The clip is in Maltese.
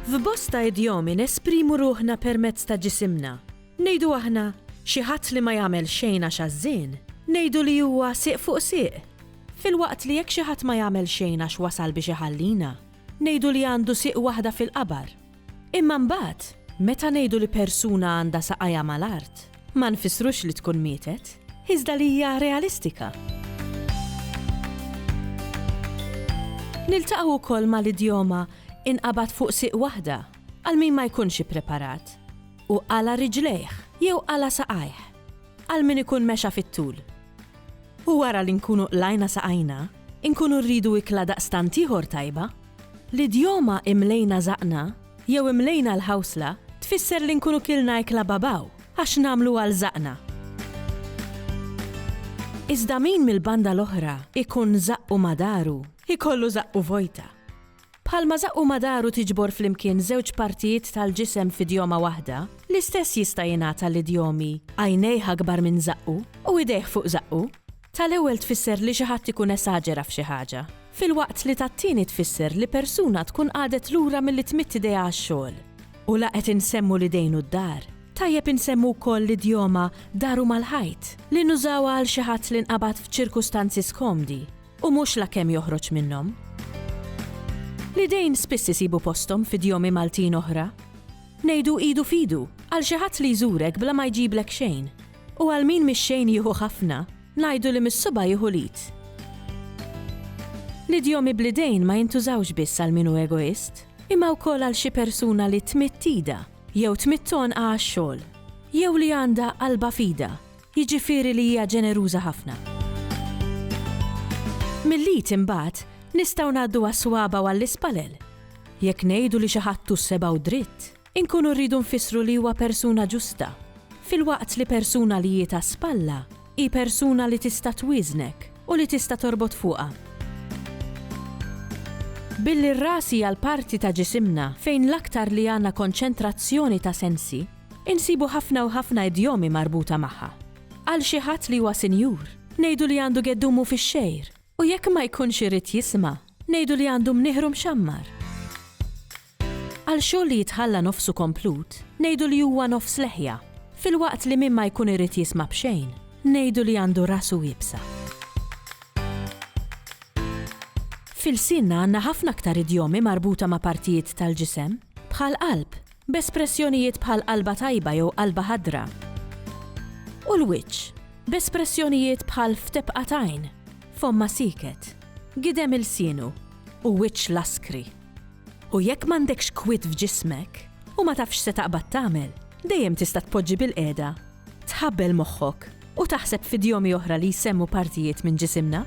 F'bosta idjomi nesprimu ruħna permezz ta' ġisimna. Ngħidu aħna, Xi ħadd li ma jagħmel xejn għax għażżien, ngħidu li huwa sieq fuq sieq. Filwaqt li jekk xi ħadd ma jagħmel xejn għax wasal biex iħallina, Ngħidu li għandu sieq waħda fil-qabar. Imma mbagħad, meta ngħidu li persuna għandha saqajha mal-art, ma nfissrux li tkun mietet, iżda li hija realistika. Niltaqgħu wkoll mal-idjoma inqabad fuq sieq waħda għal min ma jkunx ippreparat u qala' riġlejh jew qala' saqajh. għal min ikun mexa fit-tul. U wara li nkunu qlajna saqajna, inkunu rridu ikla daqstant ieħor tajba. L-idjoma imlejna żaqqna jew imlejna l-ħawsla tfisser li nkunu kilna ikla babaw għax nagħmlu għal żaqqna. Iżda min mill-banda l-oħra ikun żaqqu ma' daru, ikollu żaqqu vojta. Bħalma żaqqu ma daru tiġbor flimkien żewġ partijiet tal-ġisem f'idjoma waħda, l-istess jista' jingħad għall-idjomi għajnejh akbar minn żaqqu u idejh fuq żaqqu. Tal-ewwel tfisser li xi ħadd ikun esaġera f'xi ħaġa, filwaqt li tat-tieni tfisser li persuna tkun qagħdet lura milli tmidd idejha għax-xogħol. U la qed insemmu l-idejn u d-dar, tajjeb insemmu wkoll l-idjoma daru mal-ħajt, li nużawha għal xi ħadd li nqabad f'ċirkustanzi skomdi. U mhux la kemm joħroġ minnhom. L-idejn spiss isibu posthom f'idjomi Maltin oħra. Ngħidu idu f'idu, għal xi ħadd li jżurek bla ma jġiblek xejn. U għal min mix-xejn jieħu ħafna, ngħidu li mis-subgħa jieħu l-id. L-idjomi bl-idejn ma jintużawx biss għal min hu egoist, imma wkoll għal xi persuna li tmidd idha, jew tmidd għonqha għax-xogħol, jew li għandha qalbha f'idha. Jiġifieri li hija ġeneruża ħafna. Mill-id imbagħad nistgħu ngħaddu għas-swaba' u għall-ispallel. Jekk ngħidu li xi ħadd hu sebgħu dritt, inkunu rridu nfissru li huwa persuna ġusta, filwaqt li persuna li jitha spalla hi persuna li tista' twieżnek u li tista' torbot fuqha. Billi r-ras hija l-parti ta' ġisimna fejn l-aktar li għandna konċentrazzjoni ta' sensi, Insibu ħafna u ħafna idjomi marbuta magħha. Għal xi ħadd li huwa sinjur, ngħidu li għandu geddumu fix-xgħir, u jekk ma jkunx irid jisma', ngħidu li għandu mnieħru mxammar. Għal xogħol li jitħalla nofsu komplut, ngħidu li huwa nofs leħja, filwaqt li min ma jkun irid jisma' b'xejn, ngħidu li għandu rasu iebsa. F'ilsienna għandna ħafna aktar idjomi marbuta ma' partijiet tal-ġisem, bħal qalb, b'espressjonijiet bħal qalba tajba jew qalba ħadra, u l-wiċċ, b'espressjonijiet bħal f'tebqa t'għajn, fommha sieket, gidem ilsienu, u wiċċ laskri. U jekk m'għandekx kwiet f'ġismek, u ma tafx se taqbad tagħmel, dejjem tista' tpoġġi bilqiegħda, tħabbel moħħok, u taħseb f'idjomi oħra li jsemmu partijiet minn ġisimna.